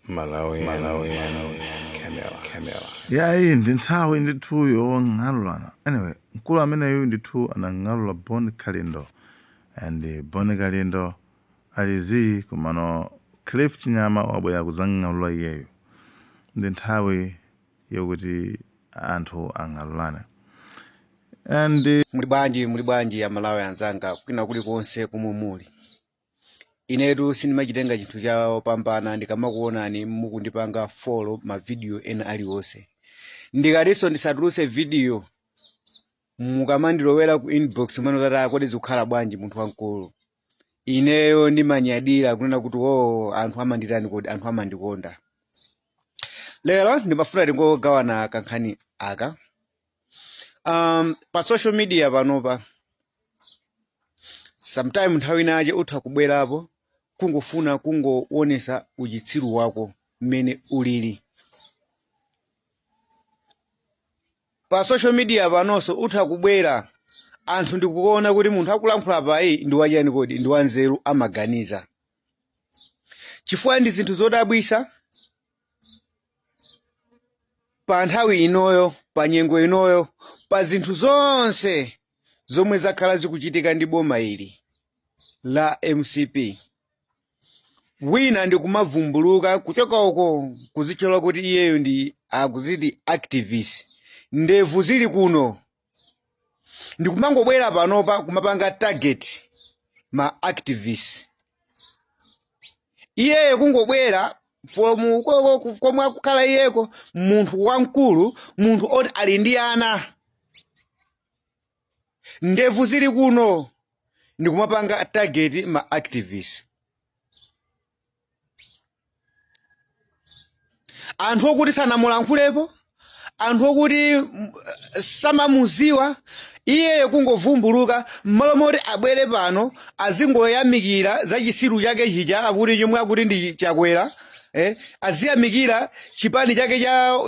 Malawian, Malawian, Camel, Camel. yayi ndi nthawi ndithu yong'alulana anyway mkulu ameneyu ndithu anang'alula Bon Kalindo and Bon Kalindo ali zii komano Cliff Chinyama wabwera kudzang'alula iyeyo ndi nthawi yokuti anthu ang'alulane and Muli bwanji aMalawi anzanga kwina kulikonse komwe muli inetu sindimachitenga chinthu chawopambana ndikamakuonani mukundipanga follow mavidiyo ena aliwonse ndikatinso ndisatuluse vidiyo mukamandilowera ku inbox mwene kuti "Ah, kodi zikukhala bwanji munthu wamkulu ineyo ndimanyadira kunena kuti o anthu amanditani kodi anthu amandikonda lero ndimafuna tingogawana kankhani aka um, pa social media panopa sometime nthawi inayake utha kubwerapo kungofuna kungoonesa uchitsiru wako mmene ulili pa social media panonso utha kubwera anthu ndikuona kuti munthu akulankhula apayi ndi wachani kodi ndi wanzeru amaganiza chifukwa ndi zinthu zodabwisa pa nthawi inoyo pa nyengo inoyo pa zinthu zonse zomwe zakhala zikuchitika ndi boma ili la MCP wina ndikumavumbuluka kuchoka uko kuzitchula kuti iyeyo ndi akuziti activist ndevu zili kuno ndikumangobwera panopa kumapanga target ma activists iyeyo kungobwera from uko komwe akukhala iyeko munthu wamkulu munthu oti ali ndi ana ndevu zili kuno ndikumapanga target ma activists anthu okuti sanamulankhulepo anthu okuti mm, samamuziwa iyeyo kungovumbuluka mmalo moti abwere pano azingoyamikira za chisiru chake chija akuti chomwe akuti ndi chakwera eh, aziyamikira chipani chake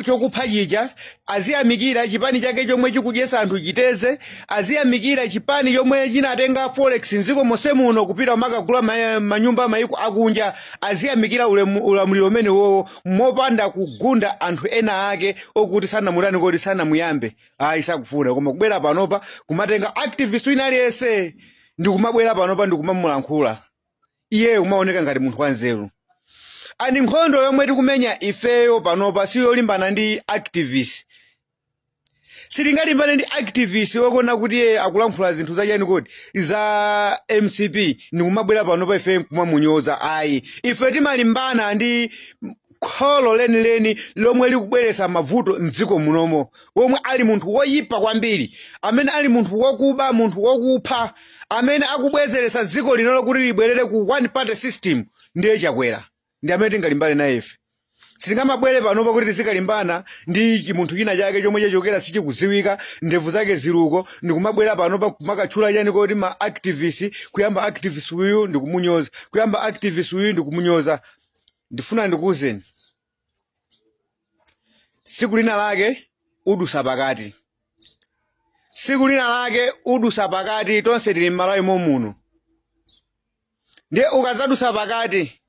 chokupha chija aziyamikira chipani chake chomwe chikudyesa anthu chiteze aziyamikira chipani chomwe chinatenga forex nziko monse muno kupita kumakagula ma- manyumba mayiko akunja aziyamikira ulemu- ulamuliro umene wowo mopanda kugunda anthu ena ake okuti sanamutani kodi sanamuyambe ayi sakufuna koma kubwera panopa kumatenga activist wina aliyense ndikumabwera panopa ndikumamulankhula iyeyo kumaoneka ngati munthu wanzeru and nkhondo yomwe tikumenya ifeyo panopa si yolimbana ndi activist sitingalimbane ndi activist woona kuti akulankhula zinthu zachani kodi za mcp ndikumabwera panopa ife nkumamunyoza ayi ife timalimbana ndi kholo lenileni lomwe likubweretsa mavuto m'dziko munomo womwe ali munthu woyipa kwambiri amene ali munthu wokuba munthu wokupha amene akubwezeretsa dziko lino lokuti libwerere ku one party system ndiye chakwera ndi amene tingalimbane naye ife sitingamabwere panopa kuti tizikalimbana ndi chi- munthu china chake chomwe chachokera sichikudziwika ndevu zake ziluko ndikumabwera panopa kumakatchula chani kodi ma activist kuyamba activist uyu ndikumunyoza kuyamba activist uyu ndikumunyoza ndifuna ndikuwuzeni tsiku lina lake udusa pakati tsiku lina lake udusa pakati tonse tili m'malawi momuno ndiye ukazadusa pakati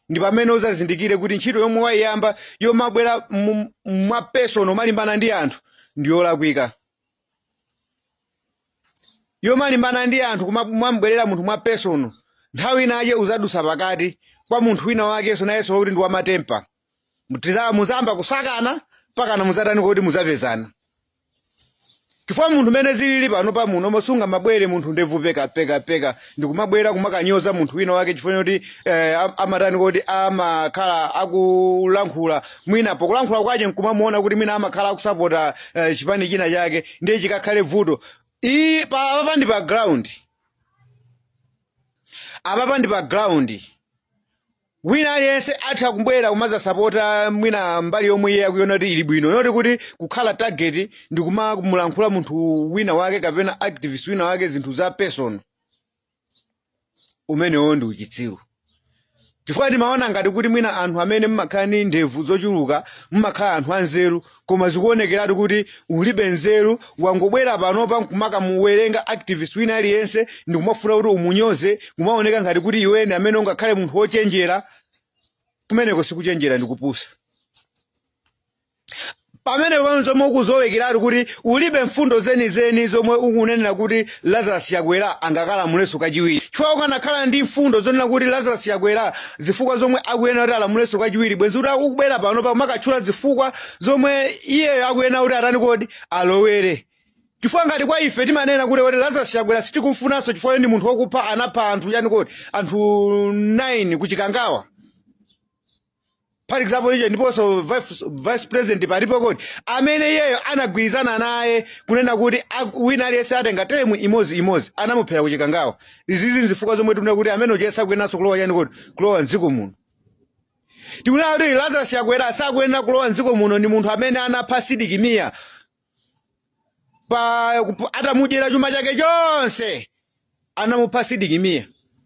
ndi pamene uzazindikire kuti ntchito yomwe wayiyamba yomabwera mu- mwa personal umalimbana ndi anthu ndiyolakwika yomalimbana ndi anthu kuma- kumamubwerera munthu mwa personal nthawi inayake uzadusa pakati kwa munthu wina wakenso nayenso wakuti ndi wamatempa Mutiza- muzayamba kusakana pakana muzatani kodi muzapezana chifukwa munthu mene zilili panopa muno mosunga mabwere munthu ndevu peka peka peka ndikumabwera kumakanyoza munthu wina wake chifukwa choti eh, am- amatani kodi amakhala akulankhula mwina pokulankhula kwache nkumamuona kuti mwina amakhala akusapota eh, chipani china chake ndiye chikakhale vuto iyi pa apapa ndi pa ground apapa ndi pa ground Wina aliyense atha kubwera kumazasapota mwina mbali yomwe iye akuiona kuti ili bwino not kuti kukhala target ndi kumamulankhula munthu wina wake kapena activist wina wake zinthu za personal umenewo ndi uchitsiru chifukwa ndimaona ngati kuti mwina anthu amene mmakhala ndi ndevu zochuluka mmakhala anthu anzeru koma zikuonekeratu kuti ulibe nzeru wangobwera panopa nkumakamuwerenga activist wina aliyense ndikumafuna kuti umunyoze kumaoneka ngati kuti iwe ndi amene ungakhale munthu wochenjera kumeneko sikuchenjera ndi kupusa pamene pamene zomwe ukuzowekeratu kuti ulibe mfundo zenizeni zomwe ukunenera kuti Lazarus Chakwera angakalamulenso kachiwiri chifukwa ukanakhala ndi mfundo zonena kuti Lazarus Chakwera zifukwa zomwe akuyenera kuti alamulenso kachiwiri bwenzi kuti ukubwera panopa kumakatchula zifukwa zomwe iyeyo akuyenera kuti atani kodi alowere chifukwa ngati kwa ife timanena kuti kuti Lazarus Chakwera sitikumfunanso chifukwa choti ndi munthu wokupha anapha anthu chani kodi anthu 9 kuchikangawa for example iye ndiponso vice- vice president palipo kodi amene iyeyo anagwirizana naye kunena kuti ak- wina aliyense atenga teremu imodzi imodzi anamuphera kuchikangawa izizi nzifukwa zomwe tikunena kuti amene uja sakuyeneranso kulowa chani kodi kulowa mdziko muno tikunena kuti lazarus chakwera sakuyenera kulowa mdziko muno ndi munthu amene anapha sidikimiya pa kup- atamudyera chuma chake chonse anamupha sidikimiya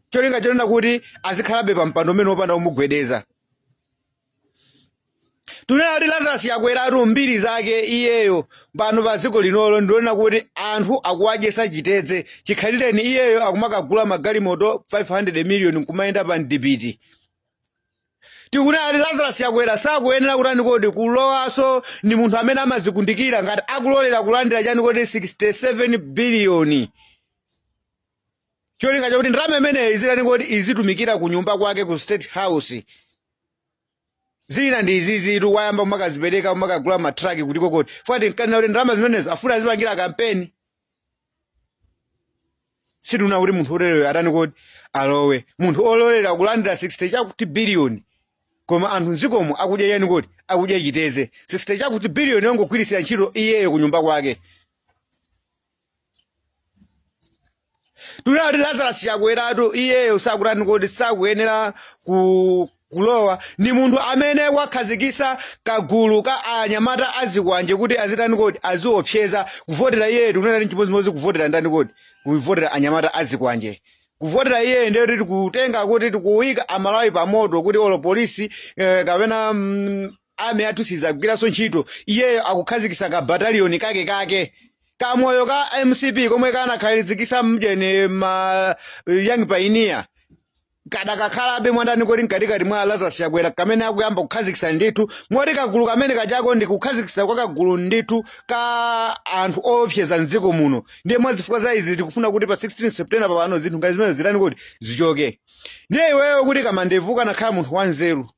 cholinga chonena kuti azikhalabe pa mpando umene wopanda kumugwedeza tunena kuti lazarus chakweratu mbiri zake iyeyo pano pa dziko linolo ndi yonena kuti anthu akuwadyesa chitedze chikhalireni iyeyo akumakagula magalimoto 500 million nkumayenda pa mdipiti tikunena kuti lazarus chakwera sakuyenera kutani kodi kulowaso ndi munthu amene amazikundikira ngati akulolera kulandira chani kodi 67 biliyoni cholinga chakuti ndalama imeneyi izitani kodi izitumikira ku nyumba kwake ku state house zina ndi izizitu wayamba kumakazipereka kumakagula matraki kuti kokoti fuati nkanena kuti ndalama zimenezo afuna azipangira kampeni sitikunena kuti munthu otereyo atani kodi alowe munthu ololera kulandira 60 chakuti biliyoni koma anthu mdzikomo akudya chani kodi akudya chitedze 60 chakuti biliyoni yongogwiritsira ntchito iyeyo kunyumba kwake tunena kuti lazarus chakweratu iyeyo sakutani kodi sakuyenera ku Kulowa, Ndi munthu amene wakhazikitsa kagulu ka anyamata azikwanje kuti azitani kodi, aziopseza, kuvotera iyeyo tikunena kuti nchimodzimodzi kuvotera ndani kodi, kuvotera anyamata azikwanje. Kuvotera iyeyo ndiye kuti tikutenga kuti tikuika Amalawi pamoto kuti olo polisi eh, kapena mm, army yathu sidzagwiranso ntchito, iyeyo akukhazikitsa ka battalion kake kake kamoyo ka mcp komwe kanakhazikitsa mjeni ma young pioneer Kadakakhalabe mwandani kodi mkatikati mwa a Lazarus Chakwera kamene akuyamba kukhazikitsa ndithu moti kagulu kamene kajako ndi kukhazikitsa kwa kagulu ndithu ka anthu oopseza mdziko muno ndiye mwa zifukwa za izi tikufuna kuti pa 16 September pano zinthu ngati zimenezo zitani kodi zichoke ndiye iweyo kuti kamandevu ukanakhala munthu wanzeru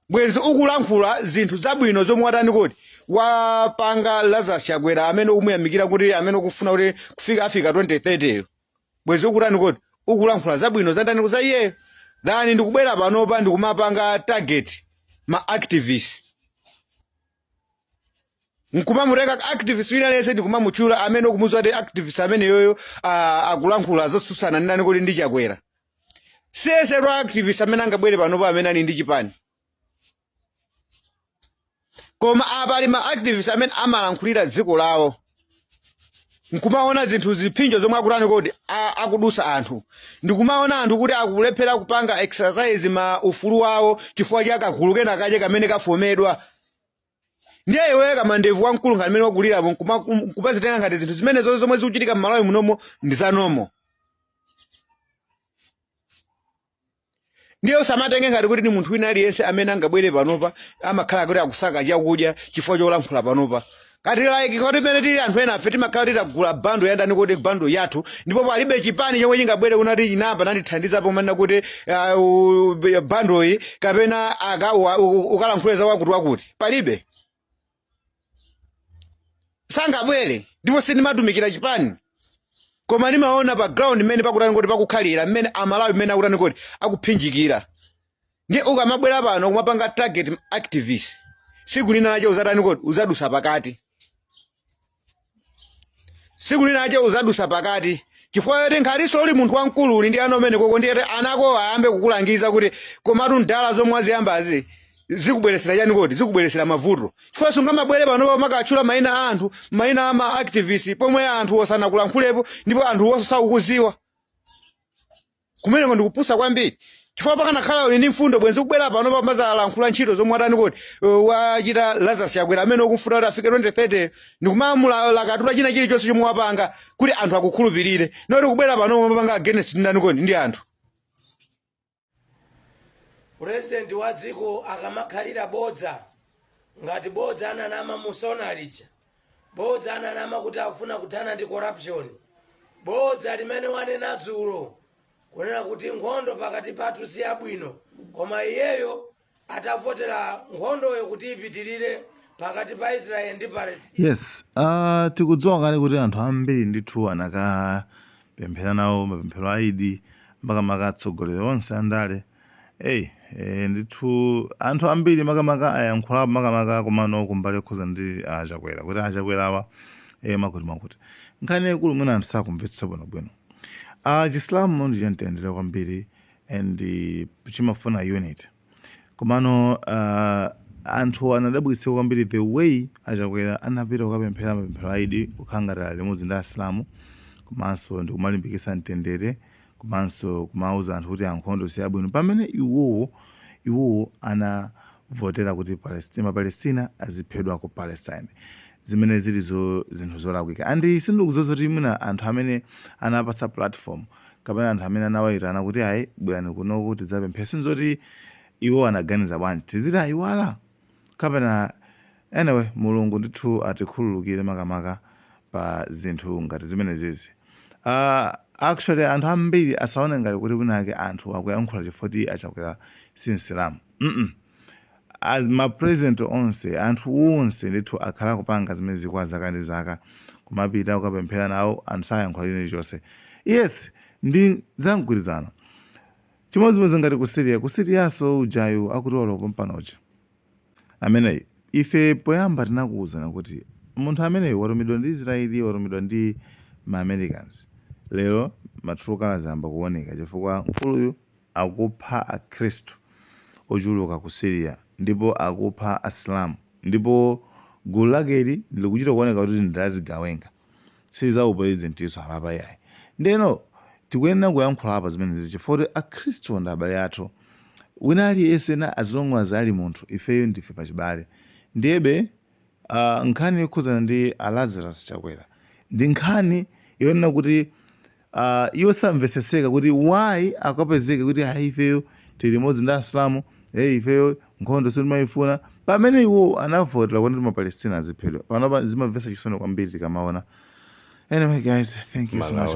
bwenzi ukulankhula zinthu zabwino zomwe watani kodi wapanga lazarus chakwera amene ukumuyamikira kuti amene ukufuna kuti kufika afike 2030 yo bwenzi ukutani kodi ukulankhula zabwino zandani kodi za iyeyo than ndikubwera panopa ndikumapanga target ma activist nkumamutenga activist wina aliyense ndikumamutchula amene ukumudziwa kuti activist ameneyoyo ah, akulankhula zotsutsana ndi ndani kodi ndi chakwera si yense activist amene angabwere panopa amene ali ndi chipani koma pali ma activist amene amalankhulira dziko lawo nkumaona zinthu ziphinjo zomwe akutani kodi akudusa anthu ndikumaona anthu kuti akulephera kupanga exercise ma ufulu wawo chifukwa cha kagulu kena kache kamene kafomedwa ndiye iwe kamandevu wamkulu ngati amene wakulirapo nkumazitenga ngati zinthu zimene zonse zomwe zikuchitika m'malawi munomo ndi zanomo ndiye usamatenge ngati kuti ni munthu wina aliyense amene angabwere panopa amakhala kuti akusaka chakudya chifukwa cholankhula panopa ngati like kuti pamene tili anthu ena afe timakhala kuti tagula bando yandani kodi bando yathu ndipo palibe chipani chomwe chingabwere kunati chinabwera nandithandiza pomanena kuti ah, u- u- bando iyi kapena aka- wa- u- ukalankhule za wakuti wakuti palibe sangabwere ndipo sindimatumikira chipani koma ndimaona pa ground mmene pakutani kodi pakukhalira mmene amalawi mmene akutani kodi akuphinjikira ndiye ukamabwera pano kumapanga target activist siku linalache uzatani kodi uzadusa pakati siku linache uzadusa pakati chifukwa choti nkhaliso uli munthu wamkulu uli ndi ana mmene koko ndiye anako ayambe kukulangiza kuti komatu mdala zomwe waziyambazi zikubweresera chani kodi zikubweresera mavuto chifukwa sungamabwere panopa umakatchula mayina a anthu mayina a ma activist pomwe anthu osanakulankhulepo ndipo anthu osakukuziwa Kumeneko ndikupusa kwambiri chifukwa pakanakhala uli ndi mfundo bwenzi ukubwera panopa kumazalankhula ntchito zomwe watani kodi uh, wachita Lazarus Chakwera amene ukumfuna kuti afike 2030 ndikumamulakatula china chilichonse chomwe wapanga kuti anthu akukhulupirire noti kubwera panopa umapanga against ndani kodi ndi anthu purezidenti wa dziko akamakhalira bodza ngati bodza ananama musona lija Bodza ananama kuti akufuna kuthana ndi corruption. Bodza limene wanena dzulo kunena kuti nkhondo pakati pathu si yabwino koma iyeyo atavotera nkhondoyo kuti ipitirire pakati pa Israel ndi Palestine. Yes, uh, tikudziwa kale kuti anthu ambiri ndithu anakapemphera nawo mapemphero a Idi makamaka atsogoleri onse andale Ei, eh, ndithu anthu ambiri makamaka ayankhulapo makamaka komano kumbali yokhuza ndi achakwera kuti achakwera awa eh, chifukwa choti nkhani yaikulu mwina anthu sakumvetsa bwinobwino ah, chisilamu ndi chamtendere kwambiri and eh, chimafuna unity komano ah, anthu anadabwitsa kwambiri the way achakwera anapita kukapemphera mapemphero a Idi kukhala ngati ali limodzi ndi asilamu komanso ndikumalimbikitsa mtendere komanso kumauza anthu kuti nkhondo si yabwino pamene iwowo iwowo anavotera kuti Palestine ma Palestina aziphedwa ku Palestine zimene zili zo zinthu zolakwika and sindikudziwa zoti mwina anthu amene anawapatsa platform kapena anthu amene anawaitana kuti ayi bwerani kunoku tidzapemphere sindidziwa zoti iwowo anaganiza bwanji tiziti ayiwala Kapena anyway mulungu ndithu atikhululukire makamaka pa zinthu ngati zimenezizi. Aaa actually anthu ambiri asaone ngati kuti winawake anthu akuyankhula chifukwa choti a Chakwera si msilamu mm as ma president onse anthu onse ndithu akhala akupanga zimenezi kwa zaka ndi zaka kumapita kukapemphera nawo anthu sayankhula chilichonse yes ndi za mgwirizano Chimodzimodzi ngati ku Syria, ku Syrianso ujayu akuti walowa pompano uja. Ameneyi, ife poyamba tinakuwuzani kuti munthu ameneyi watumidwa ndi Israel, watumidwa ndi ma Americans. Lero ma true colours ayamba kuwoneka chifukwa mkuluyu akupha a khristu ochuluka ku Syria ndipo akupha asilamu ndipo gulu lakeli likuchita kuwoneka kuti ndi la zigawenga. si za upulezidentiso apapa iyayi. Ndeno tikuyenera kuyankhula apa zimenezizi chifukwa kuti akhristu ndi abale athu. Wina aliyense na as long as ali munthu ifeyo ndife pachibale. Ndiyebe ah, nkhani yokhudzana ndi a Lazarus Chakwera ndi nkhani yonena kuti Uh, iwo samveseseka kuti why akapezeke kuti ayi ifeyo tili limodzi ndi asilamu hey, ifeyo nkhondo sitimayifuna pamene iwo anavotera kuti mapalestina aziphedwa panopa zimamvesa chisoni kwambiri tikamaona anyway guys thank you so much